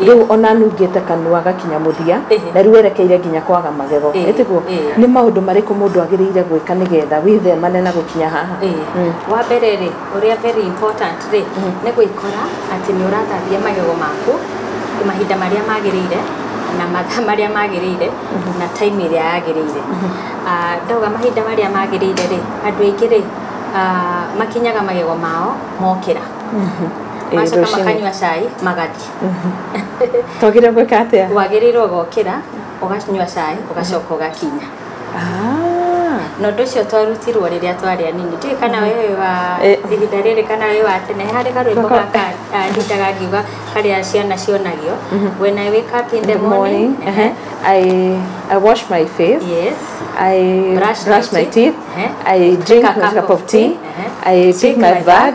rĩu ona nungĩte kanua gakinya mũthia na rĩu werekeire nginya kwaga magego nĩ tiguo nĩ maũndũ marĩkũ mũndũ agĩrĩire gwĩka nĩgetha wĩthemane na gũkinya haha mm. wa mbere rĩ ũrĩa very important rĩ mm. nĩ gwĩkora atĩ nĩ ũrathambia magego maku mahinda marĩa magĩrĩire na mathaa marĩa magĩrĩire mm-hmm. na time ĩrĩa yagĩrĩire mm-hmm. ah, ndauga mahinda marĩa magĩrĩire rĩ andũ aingĩ rĩ ah, makinyaga magego mao mokĩra mm-hmm. Ĩĩ, macoka rũcinĩ. makanyua cai magathiĩ twagĩrĩire gwĩka atĩa wagĩrĩirwo gokĩra ũganyua cai ũgacoka ũgakinya Ah, na ũndũ ũcio twarutirwo rĩrĩa twarĩ anini ndiũĩ kana we wĩ wa Eh. ihinda rĩrĩ kana wĩ wa tene harĩ karwĩmbo Gaka- gaka ah, ndutaga ngiuga karĩa ciana cionagio when I wake up in the morning ehe, I, I wash my face yes I Brush brush, my my teeth. teeth. Uh-huh. I drink, a my cup of tea. Uh-huh. I take, my bag.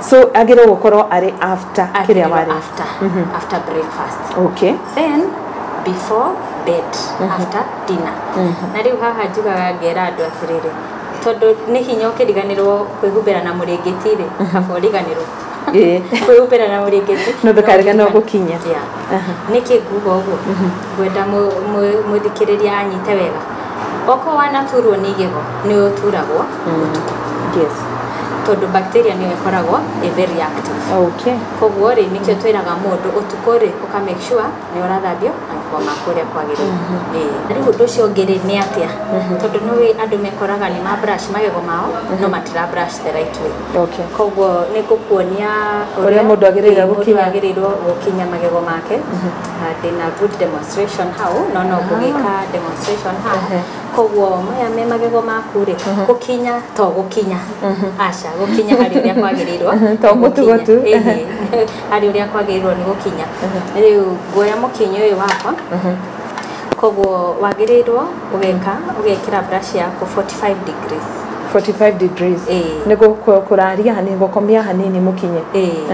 so agĩrĩirwo gũkorwo arĩ after kĩrĩa Agĩrĩirwo warĩa after after breakfast okay then before bed after dinner na rĩu haha njugaga ngera andũ atĩrĩrĩ tondũ nĩ hinya ũkĩriganĩrwo kwĩhumbĩra na mũrĩngĩti rĩ kaba ũriganĩrwo Ĩĩ. kwĩhumbĩra na mũrĩngĩti No ndũkariganĩrwo no gũkinya. Yeah. nĩkĩ nguga ũguo ngwenda mũ- mũ- mũthikĩrĩria anyite wega Okorwo wanaturwo nĩ igego nĩ ũturagwo ũtukũ. Yes. Tondũ bacteria nĩyo ĩkoragwo ĩ very active. Okay. Koguo rĩ nĩkĩo twĩraga mũndũ ũtukũ rĩ ũka make sure nĩ ũrathambio magego maku ũrĩa kwagĩrĩire. Ĩĩ. Rĩu ũndũ ũcio ũngĩ rĩ nĩ atĩa? Tondũ nĩ ũĩ andũ mekoraga nĩ ma brush magego mao no matira brush the right way. Okay. Koguo nĩ ngũkuonia Ũrĩa mũndũ agĩrĩire gũkinya. ũrĩa mũndũ agĩrĩirwo gũkinya magego make. na ndĩna good demonstration hau no no ngũgĩka demonstration hau Ehe. koguo maya me magego maku rĩ gũkinya to gũkinya aca gũkinya harĩ ũrĩa kwagĩrĩirwo nĩ To gũkinya. gũtugotu. Ĩhĩ. harĩ ũrĩa kwagĩrĩirwo nĩ gũkinya rĩu nguoya mũkinyĩ ũyũ wakwa Koguo wagĩrĩirwo ũgeka ũgekĩra brush yaku 45 degrees. 45 degrees. Ĩĩ. Nĩ kũraria hanini gũkomia hanini mũkinye. Ĩĩ.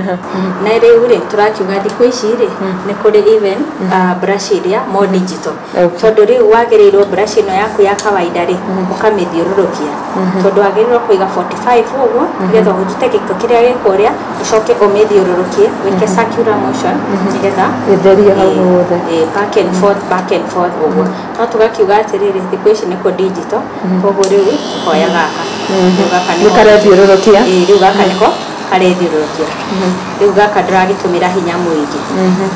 Na rĩu rĩ tũrakiuga thikũ ici rĩ nĩ kũrĩ even ah, brush iria more digital. Okay. Tondũ rĩu wagĩrĩirwo brush ĩno yaku ya kawaida rĩ ũkamĩthiũrũrũkia. Tondũ wagĩrĩirwo kũiga 45 ũguo nĩgetha ũrute gĩko kĩrĩa gĩ kũrĩa ũcoke ũmĩthiũrũrũkie wĩke circular motion nĩgetha Ĩtherie hau ĩ- hothe. ĩ, back and forth back and forth ũguo no tũgakiuga atĩrĩrĩ thikũ ici nĩkũ digital koguo rĩu tũkoya gaka Rĩu gaka nĩko- Nĩkarethiũrũrũkia? Ĩ, rĩu gaka nĩko karethiũrũrũkia rĩu gaka ndũragĩtũmĩra hinya mũingĩ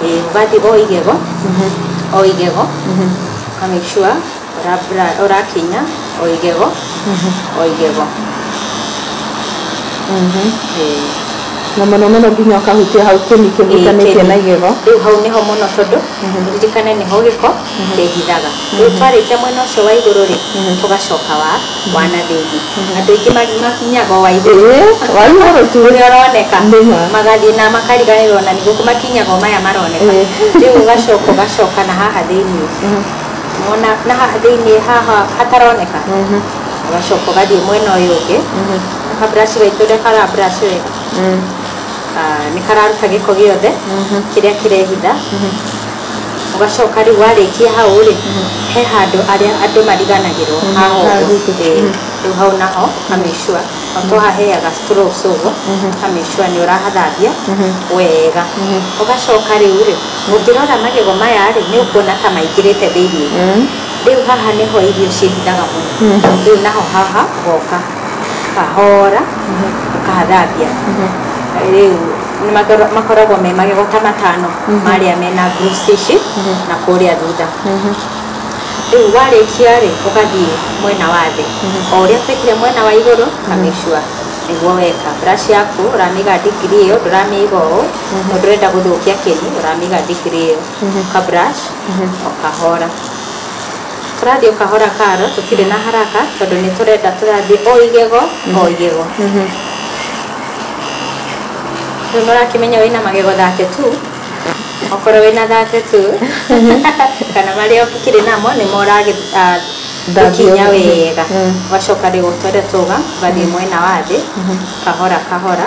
Ĩ, ũgathiĩ o igego o igego ũka make sure ũrakinya o igego o igego na mũno mũno nginya ũkahutia hau kĩni kĩhutanĩtie na igego rĩu hau nĩho mũno tondũ ririkane nĩho gĩko kĩhithaga rĩu twarĩkia mwena ũcio wa igũrũ rĩ tũgacoka wa wa na thĩinĩ andũ aingĩ ma- makinyaga o wa igũrũ Ĩĩ, wa igũrũ tu. ũrĩa ũroneka Nĩ ma. magathiĩ na makariganĩrwo na nĩguo makinyaga o maya maroneka Ĩĩ. rĩu ũgacoka ũgacoka na haha thĩinĩ Mona na haha thĩinĩ haha hataroneka ũgacoka ũgathiĩ mwena ũyũ ũngĩ na kaburaci gaitũ ũrĩa kara brush wega ah, nĩ kararuta gĩko gĩothe kĩrĩa kĩrehitha ũgacoka rĩu warĩkia hau rĩ he handũ arĩa andũ mariganagĩrwo haha ũguo. haguku. Eh, rĩu hau naho kamĩcua to haheaga strokes ũguo kamĩcua nĩ ũrahathambia wega ũgacoka rĩu rĩ Ũngĩrora magego maya rĩ, nĩ ũkuona ta maingĩrĩte thĩinĩ. Rĩu haha nĩho irio ciĩhithaga mũno. Rĩu naho haha ũgoka kahora ũkathambia. Rĩu makoragwo me magego ta matano marĩa mena grooves ici na kũrĩa thutha. Rĩu warĩkia rĩ, ũgathiĩ mwena wa thĩ. O ũrĩa twekire mwena wa igũrũ, ũka make sure nĩguo weka. Brush yaku ũramĩiga degree ĩyo, ndũramĩiga ũũ. tondũ ndũrenda gũthũkia kĩni ũramĩiga thikiri ĩyo ka brush o kahora tũrathiĩ o kahora karo tũtirĩ na haraka tondũ nĩ tũrenda tũrathiĩ o igego o igego rĩu nĩ ũrakĩmenya wĩna magego 32 okorwo wĩna 32 kana marĩa ũkĩrĩ namo nĩ moragĩ ah, Thambio. gũkinya wega ũgacoka rĩu ũtware tũga ũgathiĩ mwena wa thĩ kahora kahora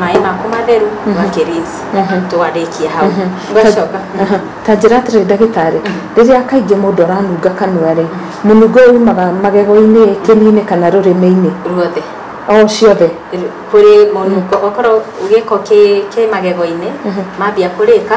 maĩ maku matheru ũgakĩrinse tũgarĩkie hau ũgacoka Aha. ta njĩra atĩrĩ ndagĩtarĩ rĩrĩa kaingĩ mũndũ aranunga kanua rĩ mũnungo ũyũ umaga magego-inĩ kĩni-inĩ kana rũrĩmĩ-inĩ ruothe o ciothe kũrĩ mũnungo okorwo gĩko kĩ kĩ magego-inĩ mambia kũrĩka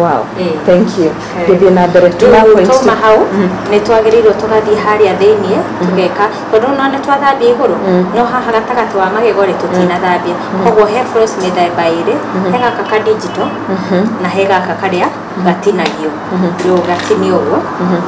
wow Eh. thank you Eh. gĩthiĩ na mbere tuma Rĩu points twauma hau Mm. nĩ twagĩrĩirwo tũgathiĩ harĩa thĩinĩ tũgeka tondũ no nĩ twathambia igũrũ Mm. no haha gatagatĩ wa magego rĩ tũtinathambia koguo he floss mĩthemba ĩrĩ he gaka ka digital Mhm. na he gaka karĩa gatinagio Mhm. rĩu ũgatinio ũguo Mhm.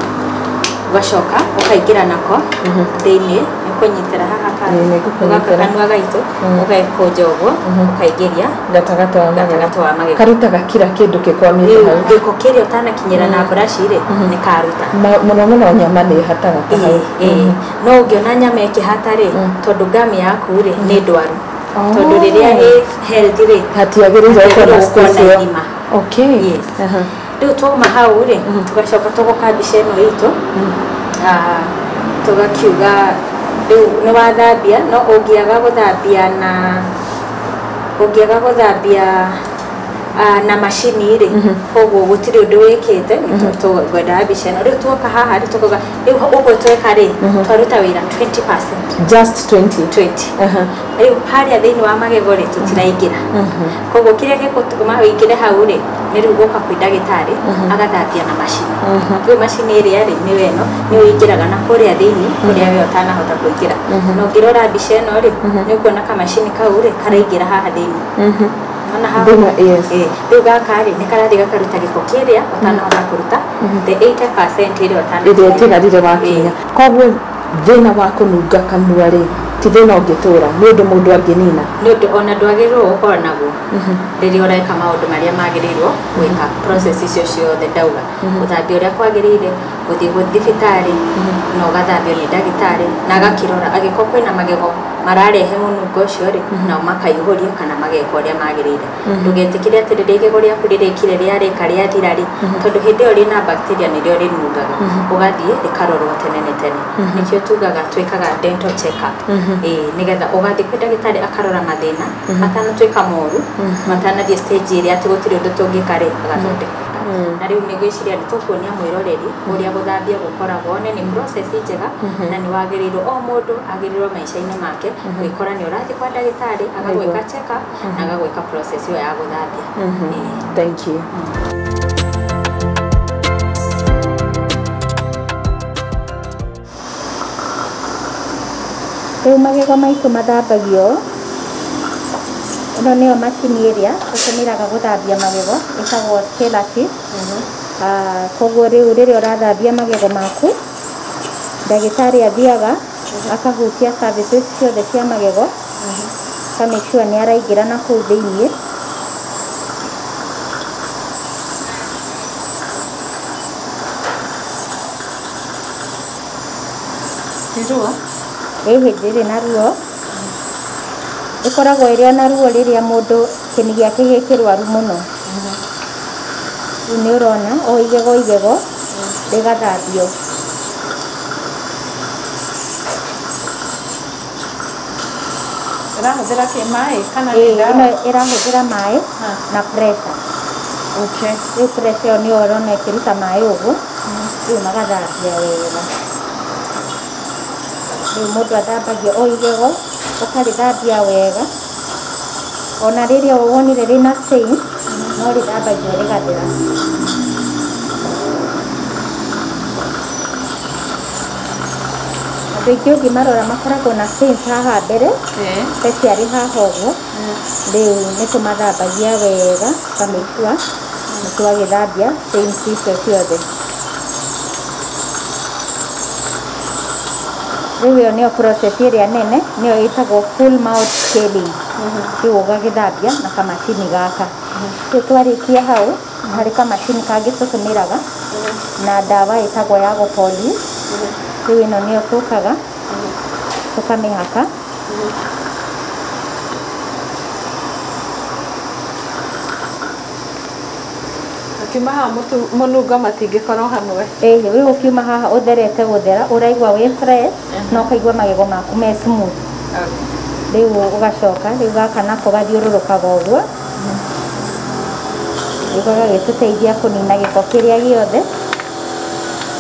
ũgacoka ũkaingĩra nako Mhm. thĩinĩ nĩ kũnyitĩra haha Ĩĩ, nĩ ngũkũnyitĩra. ũgaka kanua gaitũ Mm. ũgekũnja ũguo Mhm. ũkaingĩria gatagatĩ wa magego gatagatĩ wa magego karutaga kira kĩndũ kĩkwamĩte hau gĩko kĩrĩa ũtanakinyĩra na buraci rĩ nĩ karuta Ma- mũno mũno nyama nĩ ĩhataga ta hau Ĩĩ, ĩĩ. no ũngĩona nyama ĩkĩhata rĩ tondũ ngamu yaku rĩ nĩ ndwaru tondũ rĩrĩa ĩ healthy rĩ hatiagĩrĩire Hatiagĩrĩire gũkorwo gũkorwo na space ĩyo. irima. okay Yes. Aha. Rĩu twauma hau rĩ, tũgacoka tũgoka mbica ĩno itũ, ah, tũgakiuga rĩu nĩ wathambia, no ũngĩaga gũthambia na ũngĩaga gũthambia ah, na macini rĩ, koguo gũtirĩ ũndũ wĩkĩte, ngwendaga mbica ĩno. Rĩu tuoka haha rĩ, tũkauga rĩu ũguo tweka rĩ, twaruta wĩra 20%. Just 20. 20. Aha. rĩu harĩa thĩinĩ wa magego rĩ tũtiraingĩra koguo kĩrĩa gĩgũtũma ũingĩre hau rĩ nĩ rĩu gũka kwĩ ndagĩtarĩ agathambia na macini rĩu macini ĩrĩa rĩ nĩyo ĩno nĩ ũingĩraga na kũrĩa thĩinĩ kũrĩa we ũtanahota kũingĩra na ũngĩrora mbica ĩno rĩ nĩ ũkuona kamacini kau rĩ karaingĩra haha thĩinĩ Nĩwona haha? Thĩinĩ, yes. Ĩĩ. rĩu gaka rĩ nĩ karathiĩ gakaruta gĩko kĩrĩa ũtanahota kũruta the 80% ĩrĩa ũtanahota ĩrĩa ĩtigarire wakinya Ĩĩ. koguo Thĩna wa kũnunga kanua-rĩ, ti thĩna ũngĩtũũra, nĩ ũndũ mũndũ angĩnina. Nĩ ũndũ o na ndwagĩrĩirũo gũkorũo naguo rĩrĩa ũreka maũndũ marĩa magĩrĩirũo gwĩka, process icio ciothe ndauga, gũthambia ũrĩa kwagĩrĩire, gũthiĩ thibitarĩ na ũgathambio nĩ ndagĩtarĩ na agakĩrora. Angĩkorũo kwĩna magego mararehe mũnungo ũcio-rĩ, nao makaihũrio kana mageka ũrĩa magĩrĩire. Ndũgetĩkĩre atĩ rĩrĩa igego rĩaku rĩrĩkire rĩarĩka rĩathira rĩ, tondũ hĩndĩ ĩyo rĩna bacteria nĩrĩo rĩnungaga, ũgathiĩ rĩkarorwo tene nĩ tene. Nĩkĩo tugaga twĩkaga dental check up. Ĩĩ nĩgetha ũgathiĩ kwĩ ndagĩtarĩ akarora mathĩna matanatuĩka moru, matanathiĩ stage ĩrĩa atĩ gũtirĩ ũndũ tũngĩka rĩ, agathondeka. Na rĩu nĩ ngwĩciria nĩ tũkuonia mwĩroreri ũrĩa gũthambia gũkoragwo, one nĩ process njega na nĩ wagĩrĩirwo, o mũndũ agĩrĩirwo maica-inĩ make gwĩkora nĩ ũrathiĩ kwa ndagĩtarĩ agagwĩka check up. na gagwĩka process ĩyo ya gũthambia Ĩĩ. thank you Rĩu magego maitũ mathambagio. Ĩno nĩyo macini ĩrĩa tũtũmĩraga gũthambia magego ĩtagwo Kelati. Ah, Koguo rĩu rĩrĩa ũrathambia magego maku, ndagĩtarĩ athiaga akahutia surfaces ciothe cia magego ka make sure nĩ araingĩra na kũu thĩinĩ Ndirũa. ĩ hĩndĩ ĩrĩ na ruo ĩkoragwo ĩrĩ ona ruo rĩrĩa mũndũ kĩni gĩake gĩ kĩrwaru mũno rĩu nĩ ũrona o igego o igego rĩgathambio Ĩrahũthĩra kĩ maĩ kana nĩ Ĩĩ, ndawa? ĩno ĩrahũthĩra maĩ Ha. na pressure. Okay. Rĩu pressure ĩyo nĩyo ũrona ĩkĩruta maĩ ũgu, rĩu magathambia wega. Rĩu mũndũ athambagia o igego, ũkarĩthambia wega. Ona rĩrĩa wonire rĩna stain no rĩthambagio rĩgathera. Andũ aingĩ ũngĩmarora makoragwo na stains haha mbere, ta ciarĩ haha ũguo, rĩu nĩ tũmathambagia wega tũka make sure nĩ twagĩthambia stains icio ciothe. Rĩu ĩyo nĩyo process ĩrĩa nene, nĩyo ĩtagwo full mouth scaling. Rĩu ũgagĩthambia na kamacini gaka. Rĩu twarĩkia hau, harĩ kamacini kangĩ tũtũmĩraga na ndawa ĩtagwo ya gũpolish. Rĩu ĩno nĩyo tũkaga, tũkamĩhaka. Ũkiumaha mũtu mũnungo matingĩkorwo hamwe. Ĩĩ rĩu ũkiuma haha ũtherete gũthera ũraigua wĩ fresh na ũkaigua magego maku me smooth. Rĩu ũgacoka rĩu gaka nako gathiũrũrũkaga ũguo rĩu gagagĩtũteithia kũnina gĩko kĩrĩa gĩothe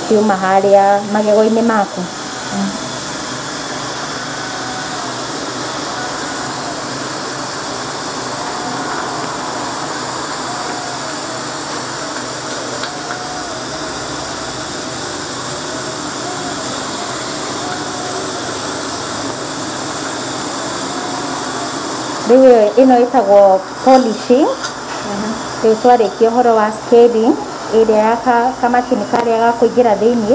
kiuma harĩa magego-inĩ maku. rĩu ĩyo- ĩno ĩtagwo polishing rĩu twarĩkia ũhoro wa scaling ĩrĩa ya ka- kamacini karĩa ga kũingĩra thĩinĩ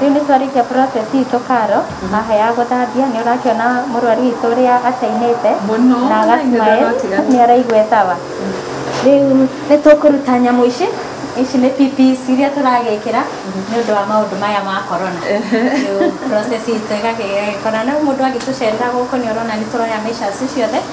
Rĩu nĩ twarĩkia process itũ karo haha ya gũthambia nĩ ũrakĩona mũrwaru witũ ũrĩa acainĩte Mũno, na na agasmae ithe ndagatiga. nĩ araigua sawa rĩu nĩ tũkũruta nyamũ ici ici nĩ PPs iria tũragĩkĩra nĩ ũndũ wa maũndũ maya ma corona rĩu process itũ ĩgagĩkorana rĩu mũndũ agĩtũcerera gũkũ nĩ ũrona nĩ tũroya measures ciothe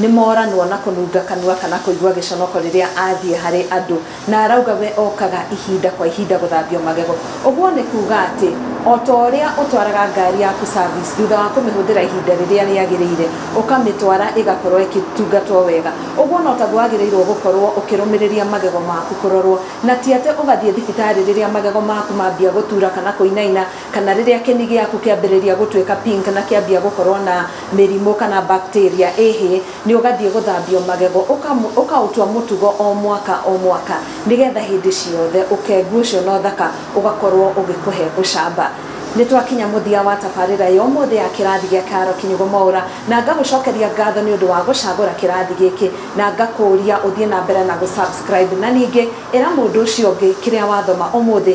Nĩ moranwo na kũnunga kanua kana kũigua gĩconoko rĩrĩa athiĩ harĩ andũ na arauga we okaga ihinda kwa ihinda gũthambio magego. Ũguo nĩ kuuga atĩ o ta ũrĩa ũtwaraga ngari yaku service thutha wa kũmĩhũthĩra ihinda rĩrĩa rĩagĩrĩire, ũkamĩtwara ĩgakorũo ĩkĩtungatwo wega, ũguo no taguo wagĩrĩirũo gũkorũo ũkĩrũmĩrĩria magego maku kũrorũo, na ti atĩ ũgathiĩ thibitarĩ rĩrĩa magego maku mambia gũtura kana kũinaina kana rĩrĩa kĩni gĩaku kĩambĩrĩria gũtuĩka pink na kĩambia gũkorwo na mĩrimũ kana bacteria ĩhĩ nĩ ũgathiĩ gũthambio magego ũkaũtua mũtugo o mwaka o mwaka nĩgetha hĩndĩ ciothe ũkengu ũcio na ũthaka ũgakorwo ũgĩkũhe ũcamba nĩ twakinya mũthia wa tabarĩra ya ũmũthĩ ya kĩrathi gĩa Karo Kinyugũ Mwaũra na ngagũcokeria ngatho nĩ ũndũ wa gũcagũra kĩrathi gĩkĩ na ngakũria ũthiĩ na mbere na gũ subscribe na ningĩ ĩra mũndũ ũcio ũngĩ kĩrĩa wathoma ũmũthĩ